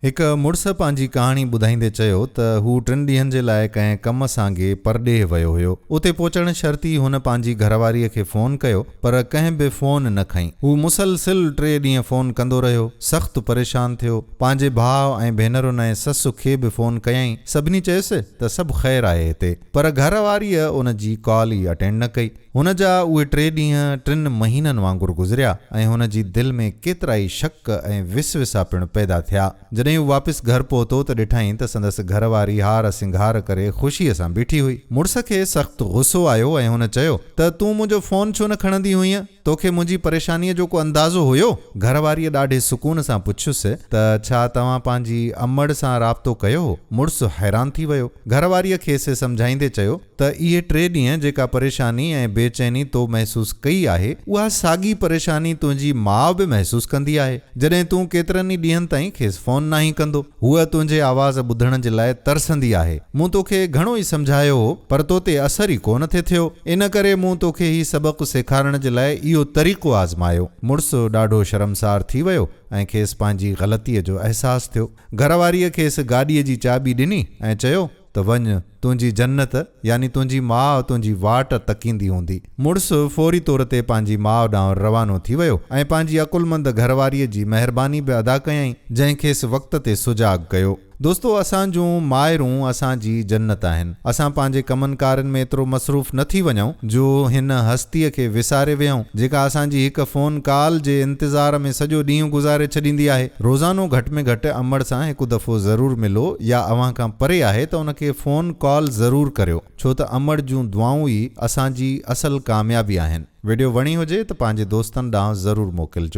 هڪ مڙس پنهنجي ڪهاڻي ٻڌائيندي چيو ته هو ٽن ڏينهن جي لاء ڪنهن ڪم سانگي پرڏيهه ويو هيو. اتي پهچڻ شرطي هن پنهنجي گهرواريء کي فون ڪيو، پر ڪنهن به فون نه کنئي. هو مسلسل ٽي ڏينهن فون ڪندو رهيو. سخت پريشان ٿيو. پنهنجي ڀاء ۽ ڀينرن ۽ سس کي به فون ڪيائين. سڀني چيس ته سڀ خير آهي هتي. پر گهرواريء ان جي ڪال ئي اٽينڊ نه ڪئي. هن جا اهي ٽي ڏينهن ٽن مهينن وانگر گذريا ۽ هن جي دل ۾ ڪيترائي شڪ ۽ وسوسا پڻ پيدا ٿيا. جڏهن هو واپس گهر پهتو ته ڏٺائين ته سندس گهر واري هار سنگهار ڪري خوشيء سان بيٺي هئي. مڙس کي سخت غصو آيو ۽ هن چيو ته تون منهنجو فون ڇو نه کڻندي هئينء؟ توکي منهنجي پريشانيء جو ڪو اندازو هيو؟ گهر واريء ڏاڍي سڪون سان پڇيس ته ڇا توهان پنهنجي امڙ سان رابطو ڪيو هو؟ مڙس حيران ٿي ويو. گهر واريء کيس سمجهائيندي چيو. ته اهي ٽي ڏينهن جيڪا پريشاني ۽ بي چيني تو محسوس ڪئي آهي، اها ساڳي پريشاني تنهنجي ماء به محسوس ڪندي آهي، جڏهن تون ڪيترن ئي ڏينهن تائين کيس فون ناهين ڪندو. هوء تنهنجي آواز ٻڌڻ جي لاء ترسندي آهي. مون توکي گهڻو ئي سمجهايو هو، پر تو تي اثر ئي ڪونه ٿي ٿيو. ان ڪري مون توکي هي سبق سيکارڻ جي لاء اهو طريقو آزمايو. مڙس ڏاڍو شرمسار ٿي ويو ۽ کيس پنهنجي غلطيء جو احساس ٿيو. گهر واريء کيس گاڏيء جي چاٻي ڏني ۽ چيو. ته وڃ، تنهنجي جنت يعني تنهنجي ماء تنهنجي واٽ تڪيندي هوندي. مڙس فوري طور تي پنهنجي ماء ڏانهن روانو ٿي ويو ۽ پنهنجي عقلمند گهرواريء جي مهرباني به ادا ڪيائين، جنهن کيس وقت تي سجاڳ ڪيو. دوستو! اسان جون مائرون اسان جي جنت آهن. اسان پنهنجي ڪمن ڪارين ۾ ايترو مصروف نه ٿي وڃون، جو هن هستيء کي وساري ويهون، جيڪا اسان جي هڪ فون ڪال جي انتظار ۾ سڄو ڏينهن گذاري ڇڏيندي آهي. روزانو گهٽ ۾ گهٽ امڙ سان هڪ دفعو ضرور ملو يا اوهان کان پري آهي ته ان کي فون ڪال ضرور ڪريو ڇو ته امڙ جون دعائون ئي اسان جي اصل ڪاميابي آهن. وڊيو وڻي هجي ته پنهنجي دوستن ڏانهن ضرور موڪلجو.